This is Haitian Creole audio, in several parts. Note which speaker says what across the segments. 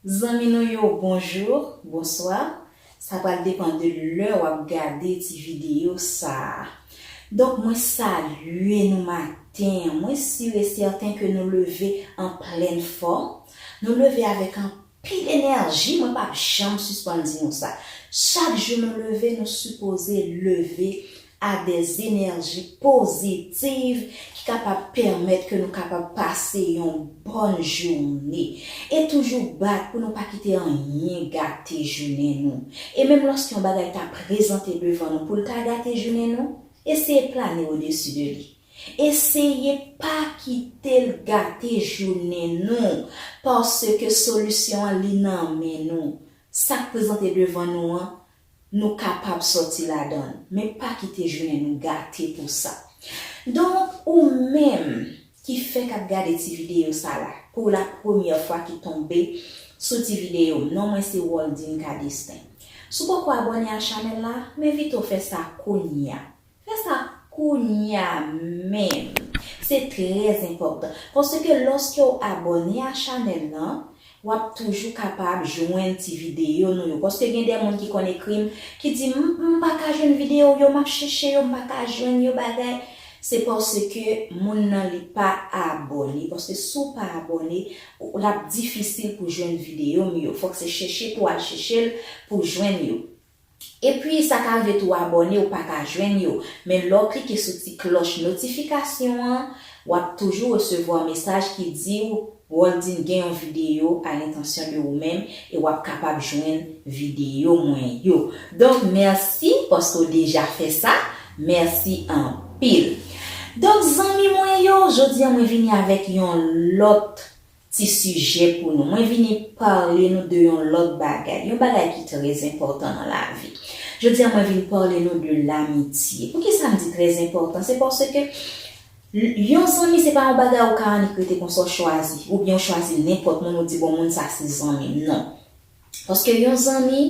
Speaker 1: Zanmi nou yo bonjour, bonsoir, sa pral depan de lè wap gade ti video sa. Donk mwen salye nou maten an, mwen sur et certain ke nou leve an plèn fòm, nou leve avèk anpil. P. Energy mwen pap janm sispann di nou sa, chak jou nou leve nou sipoze leve a de zenerji pozitiv ki kapab pèmèt ke nou kapab pase yon bòn joune e toujou bat pou nou pa kite anyen gate jounen nou e menm lòske yon bagay ta prezante devan nou poul ta gate jounen nou eseye plane odesi de li. Eseye pa kite l gate jounen nou, paske solisyon an li nan men nou. Sa k prezante devan nou an, nou kapab sòti ladan l, men pa kite jounen nou gate pou sa. Donk, ou menm ki fèk ap gade ti videyo sa la, pou la premyè fwa ki tonbe sou ti videyo m, non mwen se Waldine Cadestin. Si w poko abòne a chanèl la, m envite w fè sa kounya. Fè sa kounya menm. Se trè enpòtan paske lòske w abòne a chanèl lan, w ap toujou kapab jwenn ti videyo nou yo. Paske gen de moun ki konn ekri m, ki di m, m pa ka jwenn videyo w yo, m ap chèche yo, m pa ka jwenn yo bagay. Se paske moun nan li pa abòne. Paske si w pa abòne, l ap difisil pou jwenn videyo m yo. Fòk se chèche pou w al chèche l pou w jwenn yo. Epi sa ka rive tou abòne ou pa ka jwenn yo, men lè w klike sou ti klòch notifikasyon an, w ap toujou resevwa mesaj ki di w Roldine gen yon videyo a l'intention de ou menm e w ap kapab jwenn videyo mwen yo. Donk mèsi paske w deja fè sa, mèsi anpil. Donk zanmi mwen yo, jodi an mwen vini avèk yon lòt Ti sijè pou nou. Mwen vini parle nou de yon lòt bagay. Yon bagay ki trèz enpòtan nan lavi. Jodi a mwen vin parle nou de lamitye. Pou kisa m di trèz enpòtan? Se paske yon zanmi se pa yon bagay ou ka annik rete konsa ou chwazi. Ou byen ou chwazi nenpòt moun ou di bon moun sa se zanmi m. Non. Paske yon zanmi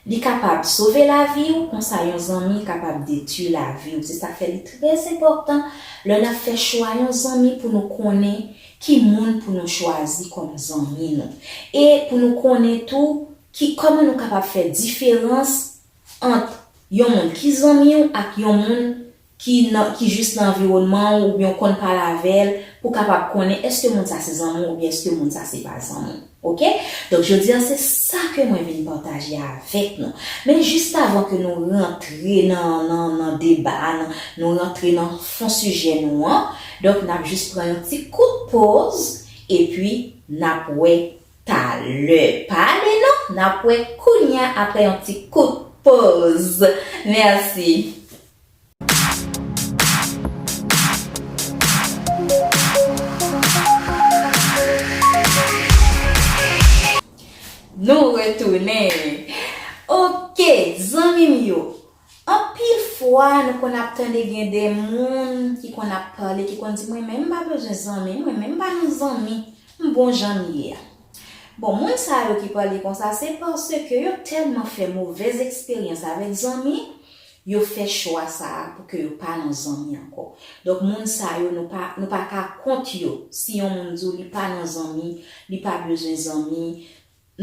Speaker 1: li kapab sove laviw konsa yon zanmi kapab detwi laviw se sak fè li trè enpòtan lè nap fè chwa yon zanmi pou nou konnen ki moun pou nou chwazi kòm zanmi nou e pou nou konnen tou ki kòman nou kapab fè diferans ant yon moun ki zanmiw ak yon moun ki nan ki jis nan anviwònman w oubyen w konn pale avè l pou w kapab konnen èske moun sa se zanmi w oubyen èske moun sa se pa zanmi w ok donk jodi a se sa ke mwen vin pataje avèk nou men jiskavan ke nou rantre nan nan nan deba a nan nou rantre nan fon sijè nou an donk n ap jis pran yon ti kout poz epi n ap wè talè pa ale non n ap wè kounya aprè yon ti kout poz mèsi. Nou retounen! Ok, zanmi m yo, anpil fwa nou konn ap tande gen de moun ki konn ap pale, ki konn di mwen menm m pa bezwen zanmi, mwen menm m pa nan zanmi, m bon jan m ye a. Bon, moun sa yo ki pale konsa se paske yo tèlman fè movèz eksperyans avèk zanmi, Yo fè chwa sa a pou ke yo pa nan zanmi ankò. Donk moun sa yo nou pa nou pa ka kont yo. Si yon moun di w li pa nan zanmi, li pa bezwen zanmi,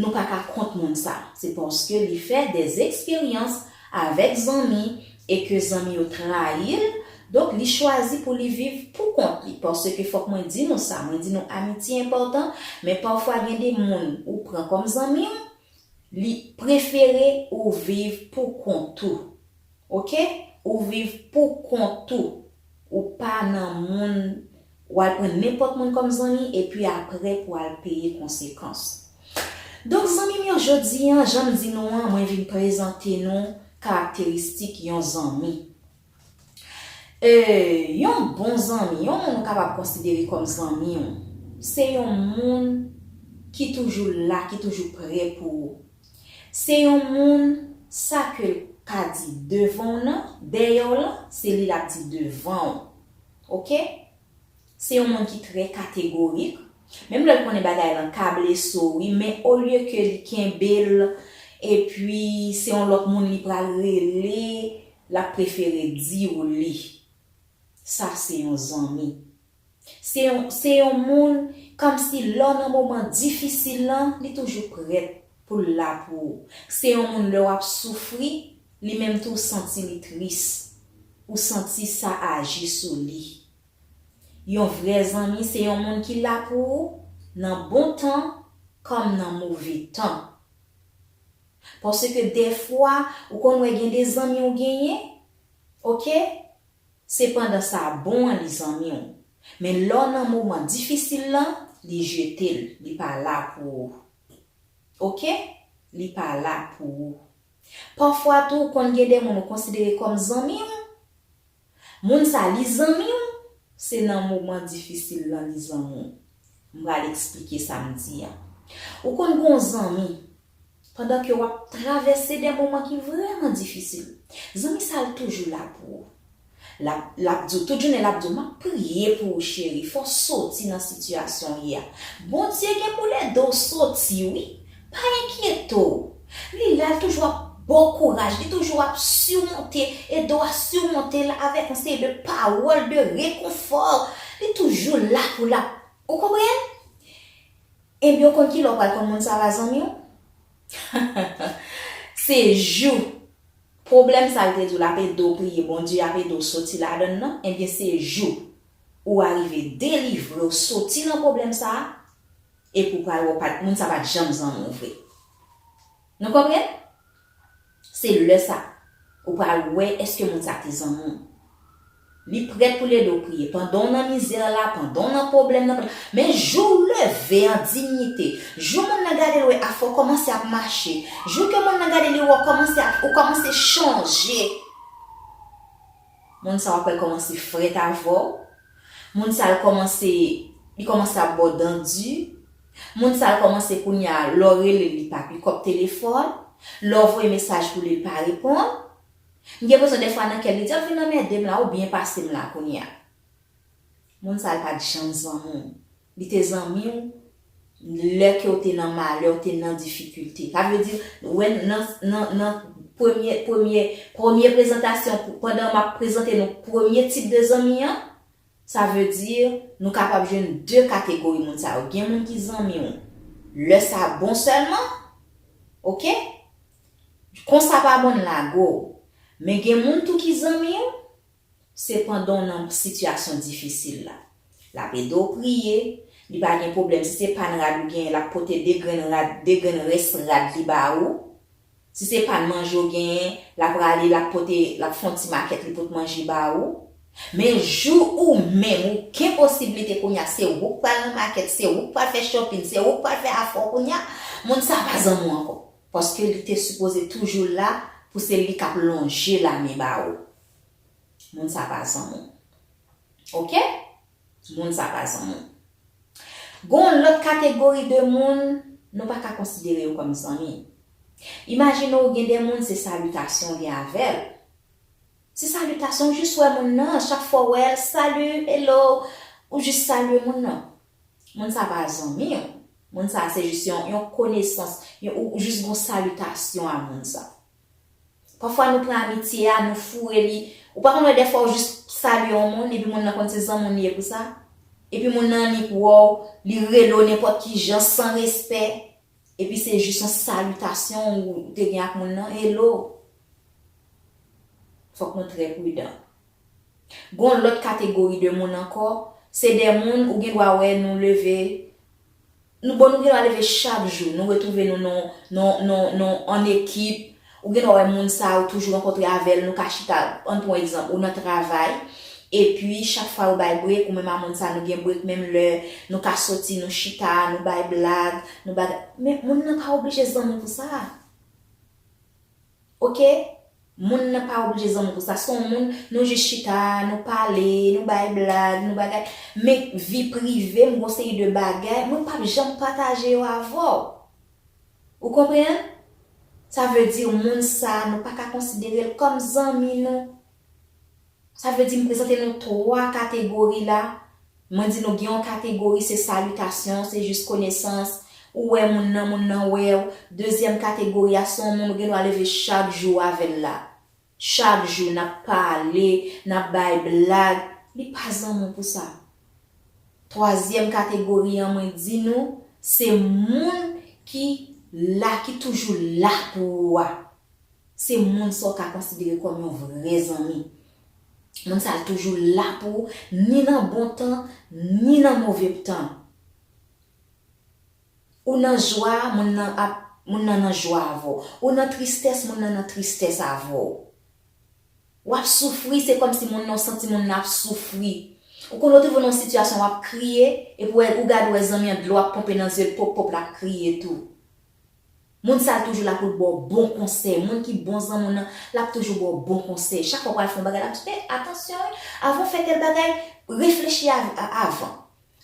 Speaker 1: nou pa ka kont moun sa. Se paske li fè dè eksperyans avèk zanmi e ke zanmi yo trayi l, donk li chwazi pou li viv pou kont li. Paske fòk mwen di nou sa, mwen di nou amitye enpòtan, men pafwa gen de moun ou pran kòm zanmi w, Li prefere ou viv pou kont ou. Ok ou viv pou kont ou. Ou pa nan moun ou al pran nenpòt moun kòm zanmi epi aprè pou al peye konsekans. Donk zanmi m yo jodi an jan m di nou an mwen vin prezante nou karakteristik yon zanmi. E, yon bon zanmi, yon moun ou kapab konsidere kòm zanmi ou, se yon moun ki toujou la, ki toujou prè pou ou. Se yon moun, sa ke l ka di devan w nan, dèyè w lan, se li l ap di devan ou. Ok? Se yon moun ki trè kategorik, menm lè l konnen bagay lan ka blese w wi men olye ke li kenbe l epi se yon lòt moun li pral rele l ap prefere di w li. Sa se yon zanmi. Se yon se yon moun kòmsi lè w nan moman difisil lan li toujou prèt Pou l la pou ou. Se yon moun lè w ap soufri, li menm tou santi li tris. Ou santi sa aji sou li. Yon vrè zanmi se yon moun ki la pou ou nan bon tan kòm nan move tan. Paske dèfwa ou konn wè gen de zanmi ou genyen, ok, se pandan sa bon an li zanmi w. Men lè w nan moman difisil lan, li jete l, li pa la pou ou. Ok li pa la pou ou. Pafwa tou konn gen de moun ou konsidere kòm zanmi w, moun sa li zanmi w, se nan moman difisil lan li zanmi w. M pral eksplike sa m di an. Ou konn gen yon zanmi, pandan ke w ap travèse de moman ki vrèman difisil, zanmi sa l toujou la pou ou. Lap lap diw tout jounen lap diw map priye pou ou cheri fò soti nan sitiyasyon ou ye a Bondye gen poul ede w soti wi pa enkyete w li la l toujou ap baw kouraj li toujou ap surmonte ede w a surmonte l avèk yon seri de pawòl de rekonfò li toujou la pou l ap ou konprann Ebyen ou konn kilè w pral konn moun sa la zanmi w se jou Pwoblèm sa l te di w l ap ede w priye Bondye ap ede w soti ladan l lan, ebyen se jou ou arive delivre w soti nan pwoblèm sa a epi w pral wè w pa t moun sa pa t janm zanmi w vre. Nou konprann? Se lè sa ou pral wè èske moun sa te zanmi w. Li prèt pou l ede w priye pandan w nan mizè la, pandan w nan pwoblèm nan, pandan, men jou w leve an dinyite, jou monn nan gade l wè afè w kòmanse ap mache, jou ke monn nan gade li wè w kòmanse ap, ou kòmanse chanje, moun sa w ap wè l kòmanse frèt avè w, moun sa l kòmanse, li kòmanse ap ba w dan di, moun sa l kòmanse kounye a lè w rele l li pa pikòp telefòn, lè w voye mesaj pou li li pa reponn. M gen presyon dèfwa nan kèm li di ou fin anmèdem la ou byen pasem la kounya moun sa yo pat janm zanmi w li te zanmi w lè ke w te nan malè w te nan difikilte sa vle di wè nan nan nan premye premye premye prezantasyon pandan map prezante nou premye tip de zanmi an Sa vle di, nou kapab jwenn 2 kategori moun sa yo. Gen moun ki zanmi w lè sa bon sèlman, ok. Kon sa pa bon n lage w. Men gen moun tou ki zanmi w, se pandan w nan sitiyasyon difisil la. L ap ede w priye, li pa gen pwoblèm si se pa n rad ou genyen l ap pote 2 grenn rad, 2 grenn rès rad li ba ou, Si se pa manje ou genyen, l ap rale, l ap pote, l ap fè yon ti makèt li pot manje ba ou. Men jou ou menm ou gen posiblite kounye a, se ou k pral nan makèt, se ou k pral fè chòpin, se ou k pral fè afè w kounye a, moun sa a pa zanmi w ankò. Paske li te sipoze toujou la pou se li k ap lonje lamen ba ou. Moun sa a pa zanmi w. Ok? Moun sa pa zanmi'w. Gen yon lòt kategori de moun, nou pa ka konsidere yo kòm zanmi. Imajine w gen de moun se salitasyon w gen avè'l. Se salitasyon, ou jis wè moun nan, chak fwa w wè'l, salut, hello, ou jis salye moun nan. Moun sa pa zanmi'w. Moun sa se jis yon konesans, ou jis gen yon salitasyon a moun sa. Pafwa nou pran amitye a, nou foure li. Ou pa konn wè dèfwa ou jis salye yon moun epi moun nan konn se zanmi w li ye pou sa? Epi moun nan annik wè w, li rele w nenpòt ki jan, san respè. Epi se jis yon salitasyon ou te gen ak moun nan, Hello! Fòk nou trè pridan. Gen yon lòt kategori de moun ankò, se de moun ou gen dwa wè nou leve Nou bon nou gendwa leve chak jou, nou retwouve nou nan nan nan nan an ekip, ou gendwa wè moun sa ou toujou rankontre avè l nou ka chita, ann pran yon egzanp ou nan travay epi chak fwa yo bay brek ou menm a moun sa nou gen brek menm lè, nou ka soti nou chita, nou bay blag, nou bagay men moun nan pa oblije zanmi pou sa. Ok Moun nan pa oblije zanmi pou sa son moun nou jis chita nou pale nou bay blag nou bagay men vi privem gon seri de bagay mwen pap janm pataje yo avèw ou konpreann sa vle di moun sa nou paka konsiderel kòm zanmi nou. Sa vle di m prezante nou 3 kategori la, mwen di nou gen yon kategori se salitasyon, se jis konesans, ou wè moun nan, moun nan wè w, dezyèm kategori a se yon moun ou gen dwa leve chak jou avè l la. Chak jou n ap pale, n ap bay blag, li pa zanmi w pou sa. Twazyèm kategori an mwen di nou se moun ki la, ki toujou la pou ou a. Se moun sa w ka konsidere kòm yon vrè zanmi. Moun sa a toujou la pou ou ni nan bon tan ni nan move tan. Ou nan jwa, moun nan ap, moun nan nan jwa avè w. Ou nan tristès, moun nan nan tristès avè w. W ap soufri, se kòm si moun nan, ou santi moun nan ap soufri. Ou konn ou twouve w nan yon sitiyasyon w ap kriye, epi w wè, ou gade w wè zanmi an dlo ap ponpe nan zye l, pop pop l ap kriye tou. Moun sa toujou la poul baw bon konsèy moun ki bon zanmi w nan lap toujou baw bon konsèy chak fwa ou pral fè yon bagay lap di eh atansyon wi avan w fè tèl bagay reflechi avan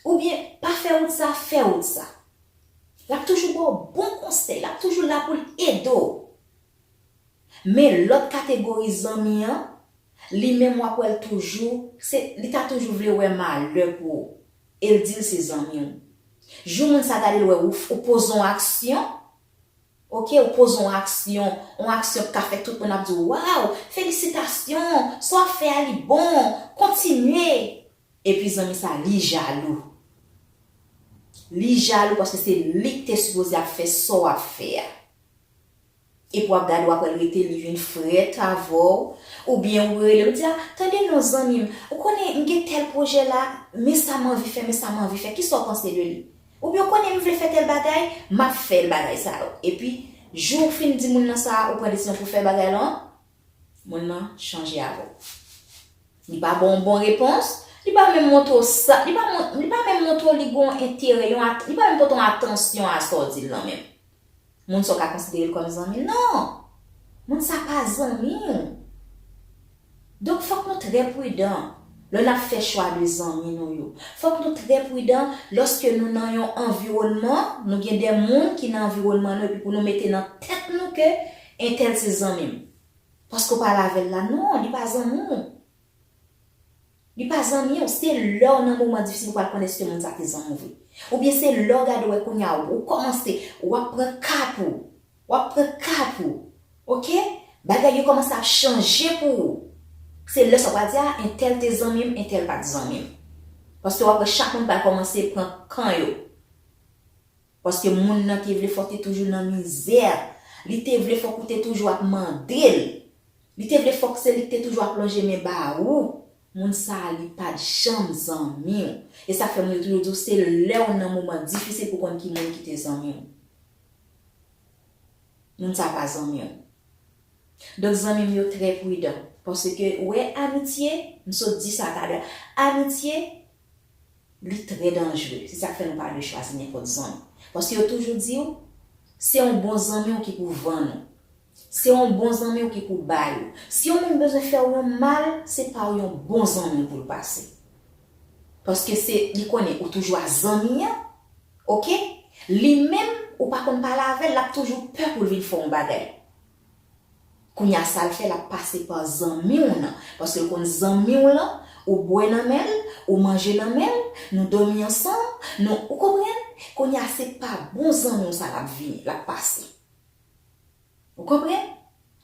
Speaker 1: ou byen pa fè wout sa fè wout sa lap toujou baw bon konsèy lap toujou la poul ede w men lòt kategori zanmi an Li menm wap wèl toujou se li ta toujou vle wè malè pou ou el dil se zanmiw jou moun sa gadel wè ou ou poze on aksyon ok ou poze on aksyon on aksyon ki ka fè tout moun ap diw waw felisitasyon sa wap fè a li bon kontinye epi zanmi sa li jalou li jalou paske se lik te sipoze ap fè sa wap fè a. Epi wap gade wap wèl rete li vin frèt avèw oubyen ou relel ou di a tande non zanmim ou konnen m gen tèl pwojè la men sa m anvi fè men sa m anvi fè kisa w panse de li oubyen ou konnen m vle fè tèl bagay map fèl bagay sa yo epi jou ou fin di moun nan sa ou pran desizyon pou fè bagay lan moun nan chanje avèw li pa baw yon bon repons li pa menm montre w sa li pa menm montre w li gen yon enterè li pa menm pote yon atansyon a sa w dil lan menm. Moun sa w ka konsidere l kòm zanmi? Non! Moun sa pa zanmi w. Donk fòk nou trè pridan lò n ap fè chwa de zanmi nou yo. Fòk nou trè pridan lòske nou nan yon anviwònman, nou gen de moun ki nan anviwònman nou epi pou nou mete nan tèt nou ke entèl se zanmi m. Paske w pale avè l la, non, li pa zanmi w. Li pa zanmi w, se lè w nan moman difisil ou pral konn eske moun sa te zanmi w vre. Oubyen se lè w gade wè kounya ou kòmanse, wap pran kap ou, wap pran kap ou, ok, bagay yo kòmanse ap chanje pou ou, se lè sa w pral di a entèl te zanmi m, entèl pat zanmi m. Paske wap wè chak moun pral kòmanse pran kan yo. Paske moun nan te vle fò w te toujou nan mizè. Li te vle fòk ou te toujou ap mande l. Li te vle fòk se li k te toujou ap lonje men ba ou. Moun sa a li pa t janm zanmi w. E sa k fè moun yo toujou di w se lè w nan moman difisil pou w konn ki moun ki te zanmi w. Moun sa a pa zanmi w. Donk zanmi m yo trè pridan. Paske ou wè amitye, m sot di sa talè. Amitye Li trè danjre, se sak fè nou pa dwe chwazi nenpòt zanmi. Paske yo toujou di ou, se yon bon zanmi w ki pou vann ou. Se yon bon zanmi w ki pou bay ou. Si yon moun bezwen fè ou yon mal, se pa w yon bon zanmi w pou l pase. Paske se, li konnen ou toujou a zanmi an, ok? Li menm, ou pa konn pale avè l, l ap toujou pè pou l vin fè w yon bagay. Kounya sal fè lap pase pa zanmiw nan paske l konn zanmiw lan ou bwè nan menl ou manje nan menl nou domi ansanm nou ou konprann kounya se pa bon zanmiw sa lap vini lap pase ou konprann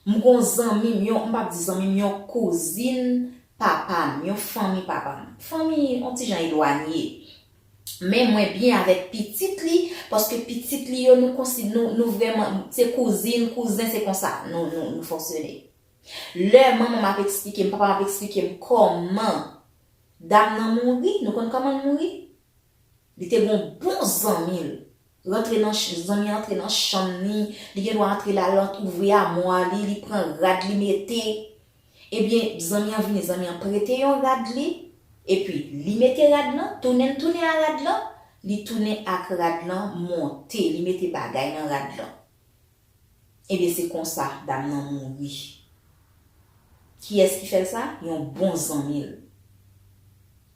Speaker 1: m gon zanmim yon m pap di zanmim yon kouzin papam yon fanmi papam fanmi on ti jan elwanye Men mwen byen avèk pitit li paske pitit li yo nou konsi nou nou vrèman se kouzin kouzen se konsa nou nou nou fonksyone. Lè manman m ap eksplike m papa m ap eksplike m kòman dam nan mouri nou konn kòman l mouri? Li te gen yon bon zanmi l rantre nan zanmi an antre nan chanm li li gen dwa antre la l ant ouvri amwa li li pran rad li mete Ebyen zanmi an vini zanmi an prete yon rad li epi li mete rad lan tounen l tounen a rad lan li tounen ak rad lan monte li mete bagay nan rad lan ebyen se konsa dam nan mouri kiyès ki fè l sa yon bon zanmi l.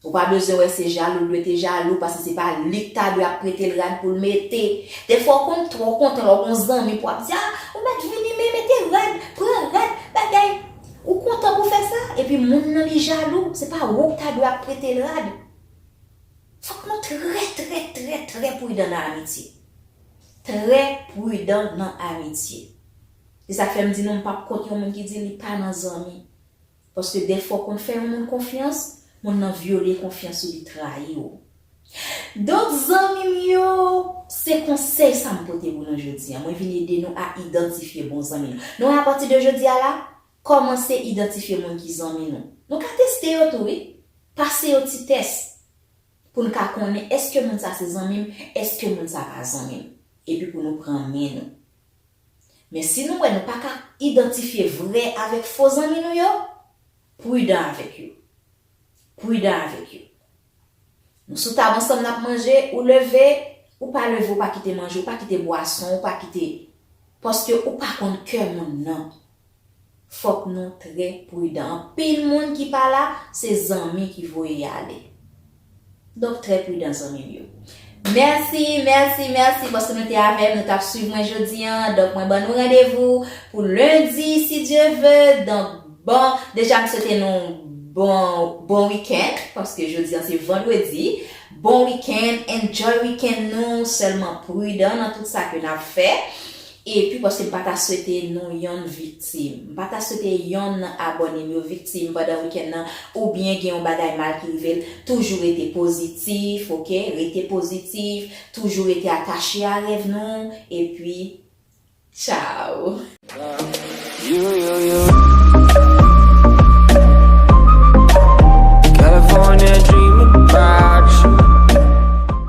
Speaker 1: Ou pa bezwen wè se jalou l dwe te jalou pase se pa li k ta dwe ap prete l rad pou l mete. Dèfwa w konn twò kontan lè w gon zanmi pou w ap di a ou mèt vini men mete rad, pran rad, bagay. Ou kontan pou w fè sa epi moun nan li jalou se pa wou k ta dwe ap prete l rad. Fòk nou trè trè trè trè prudan nan amitye. Trè prudan nan amitye. Se sa k fè m di nou m pap kont yon moun ki di li pa nan zanmi. Paske dèfwa w konn fè yon moun konfyans, moun nan vyole konfyans ou li trayi w. Donk zanmi m yo, se konsèy sa m pote pou nou jodi a. Mwen vin ede nou a idantifye bon zanmi nou. Nou wè apati de jodi a la, kòmanse idantifye moun ki zanmi nou. Nou ka teste yo tou wi. Pase yo ti tès pou n ka konnen èske moun sa se zanmi m, èske moun sa pa zanmi m. Epi pou nou pran men nou. Men si nou wè nou pa ka idantifye vrè avèk fo zanmi nou yo, pridan avèk yo. Pridan avèk yo. Nou sou tab ansanm n ap manje, ou leve, ou pa leve ou pa kite manje, ou pa kite bwason, ou pa kite, paske ou pa konn kè moun nan. Fòk nou trè prudan. Anpil moun ki pa la, se zanmi ki voye y ale. Donk trè prudan zanmi m yo. Mèsi, mèsi, mèsi paske nou te avè m, nou t ap swiv mwen jodi an. Donk mwen ban nou randevou pou lendi si Dye ve. Donk bon, deja m swete nou bon, bon weekend paske jodi an se vandredi. Bon weekend, enjoy weekend nou, sèlman prudan nan tout sa ke n ap fè. Epi paske m pa ta swete nou yonn viktim. M pa ta swete yonn nan abòne m yo viktim pandan wikenn nan oubyen gen yon bagay mal ki rive l. Toujou rete pozitif ok, rete pozitif, toujou rete atache a rèv nou epi tchao.